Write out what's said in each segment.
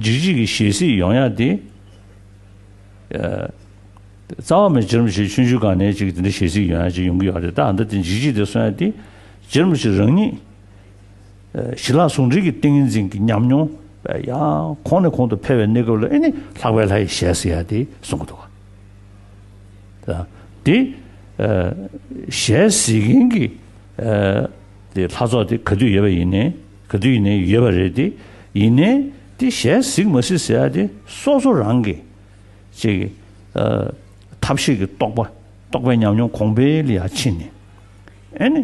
འཇིགས་བྱེད་ཀྱི་ཞལ་གཟིགས་ཡོངས་ཡངས་ཏེ། རྩ་བ་མེད་ཅིར་མི་བྱེད་ཆུང་ཆུང་གང་ནས་ཅིག་དེ་འདྲའི་ཞལ་གཟིགས་ཡོངས་ཡངས་ཅིག་ཡོང་གི་ཡོད་རེད་ད་ཨ་མདོ་དེ་འཇིགས་བྱེད་དེ་གསུངས་ཡ་དེ། ཅིར་མི་བྱེད་རང་ཉིད། ཞི་ལྷག་ཟུང་འབྲེལ་གྱི་ཏིང་ངེ་འཛིན་གྱི་ཉམས་མྱོང། ཡང་གོང་ནས་གོང་དུ་འཕེལ་བའི་གནས་སྐབས་ལ་ཨེ་ནི་ལྷག་པའི་ལྷ་ཡི་ཞལ་གཟིགས་ཡ་དེ་གསུང་གི་འདུག་ག། དེ། ཞལ་གཟིགས་མཁན་གྱི། ལྷ་ཚོགས་དེ་ག་དུས་ཡོད་པ་ཡིན་ནི། ག་དུས་ནས་ཡོད་པ་རེད་དེ། ཡིན་ནའི་དེ་ཞལ་གཟིགས་མ་སྲིད་ཟེར་ཡ་དེ་སོ་སོ་རང་གི། ཅེས། ཐབས་ཤེས་ཀྱི་རྟོག་པ་རྟོག་པའི་ཉམས་མྱོང་གོང་འཕེལ་ལ་ཡ་ཕྱིན་ནས། ཨེ་ནི།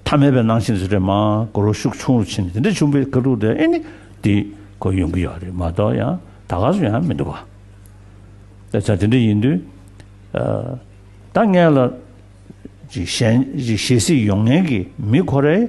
ཐ་མལ་པའི་སྣང་ཞེན་ཟེར་བྲལ་མ་གོ་རོ་ཤུགས་ཆུང་རུ་ཕྱིན་ནས་དེ་འདྲ་བྱུང་པའི་ཁ་ཐུག་དེ་ཨེ་ནི། དེ་ཁོ་ཡོང་གི་ཡོད་རེད་མ་གཏོགས་ཡང་ད་ག་སུ་ཡང་མི་འདུག་ག། ད་དེ་འདྲ་ཡིན་དུས། ད་ངས་ལ། ཞལ་གཟིགས་ཡོང་ངེས་ཀྱི་མི་ཁོ་རེ།